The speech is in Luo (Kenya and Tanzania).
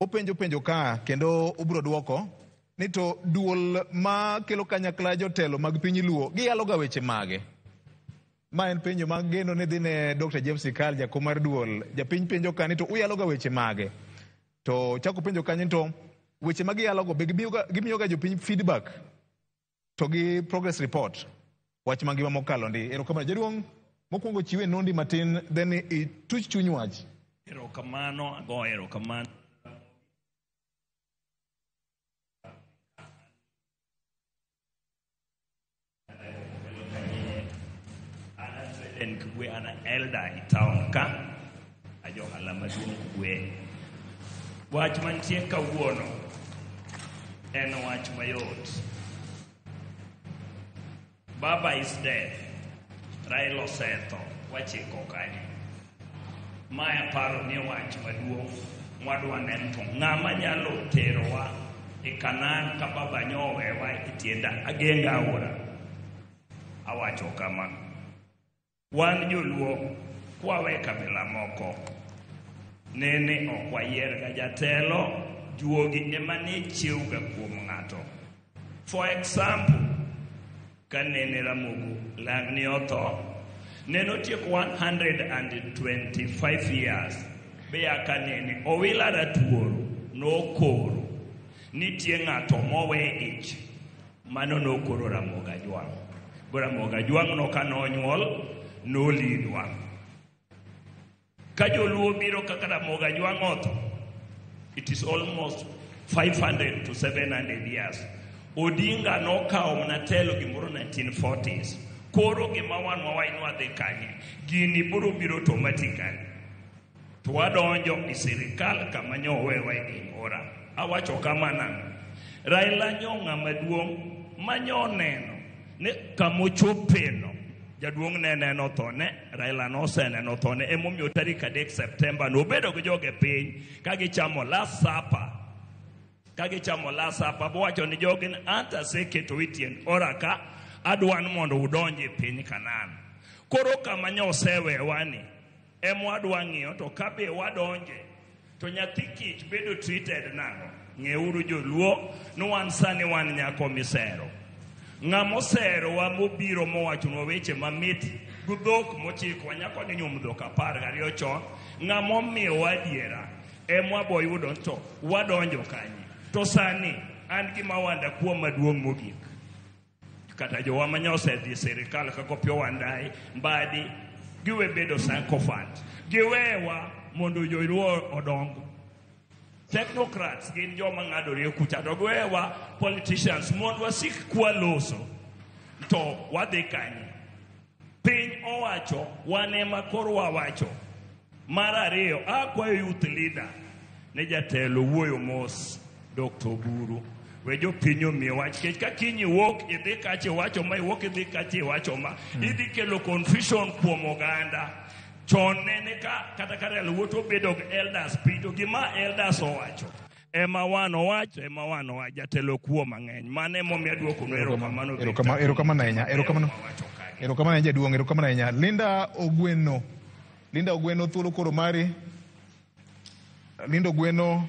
Openjo penjo ka kendo ubro dwoko ni to duol ma kelo kanyakla jotelo mag piny Luo giyaloga weche mage? Ma en penjo ma geno ni dhine Dr. James Ikal jakom mar duol. Japiny penjo ka ni to uyaloga weche mage? To chako penjo kanyo to weche ma giyalogo be gimiyoga jopiny feedback to gi progress report wach mangima mokalo ndi erokamano jaduong' mokwongo chiwe nondi matin then ituch chuny wach erokamano ago erokamano en kwe an elder e town ka Ajohala maduong' kwe. Wach mantie kawuono en wach mayot. Baba is dead. Raila osetho. Wachiko kanye. Ma aparo ni wach maduong' mwadwa neno to ng'ama nyalo terowa e Kanan ka baba nyowewa e tienda ageng'a aora. Awacho kama. Wan joluo kwawe kabila moko nene ok wayier ga jatelo juogi ema ne chiewga kuom ng'ato for example ka nene ramogo lang'ni otho nene otieko 125 years beya ka nene owila ratuoro nokoro nitie ng'ato mowe ich Mano nokoro Ramogi Ajwang'. Go Ramogi Ajwang' no ka nonyuol nolidwa. Ka joluo biro kaka Ramogi Ajwang' otho, it is almost 500 to 700 years. Odinga nokawo mana telo gimoro 1940s. Koro gima wan wawach ni wadhi kanye, gini biro biro automatically. To wadonjo i sirikal kama nyo owewa e gimora. Awacho kama nang'o? Raila nyo ng'ama duong' ma nyo oneno ni kama ochopeno jaduong' ne neno thone raila noseneno thone emomiyo tarik adek septemba nobedo gi joge piny ka gichamo last supper ka gichamo last supper bowacho ni jogi ni anta aseketo itiend ora ka adwan mondo udonj e piny kanan koro kama nyosewewa ni Ema wadwa ng'iyo to ka be wadonje to nyathi kich bedo treated nang'o? Ng'euru joluo ni wan sani wan nyako misero. Ng'ama oserowa mobiro mowachonwa weche mamit gi dhok mochikowa nyako ni nyuom dhok apar gariyo chon ng'ama omiyowa adiera ema waboyudo to wadonjo kanye to sani an gima wanda kuom maduong' mogik Kata jowa ma nyosedhi sirikal kaka Opiyo Wandayi, Mbadi, giwe bedo sycophant. Giwewa mondo joluo odong. Technocrats gin joma ng'adore kucha to giwewa politicians mondo wasik kwaloso to wadhi kanye. Piny owacho wan ema koro wawacho. Mar ariyo, akwayo youth leader ne jatelo wuoyo mos Dr. Oburu. We jopiny omiye wach kech ka kiny iwuok idhi kacha iwacho ma iwuok idhi kacha iwacho ma idhi kelo confusion kuom oganda. Chon nene ka kata ka real wuot obedo elders piny to gima elders owacho ema wan owacho ema wan owacho jatelo kuo mang'eny mano emomiyo adwoko no erokamano Erokamano- erokamano ahinya, erokamano. erokamano ahinya jaduong' erokamano ahinya linda ogweno linda ogweno thuolo koro mari linda ogweno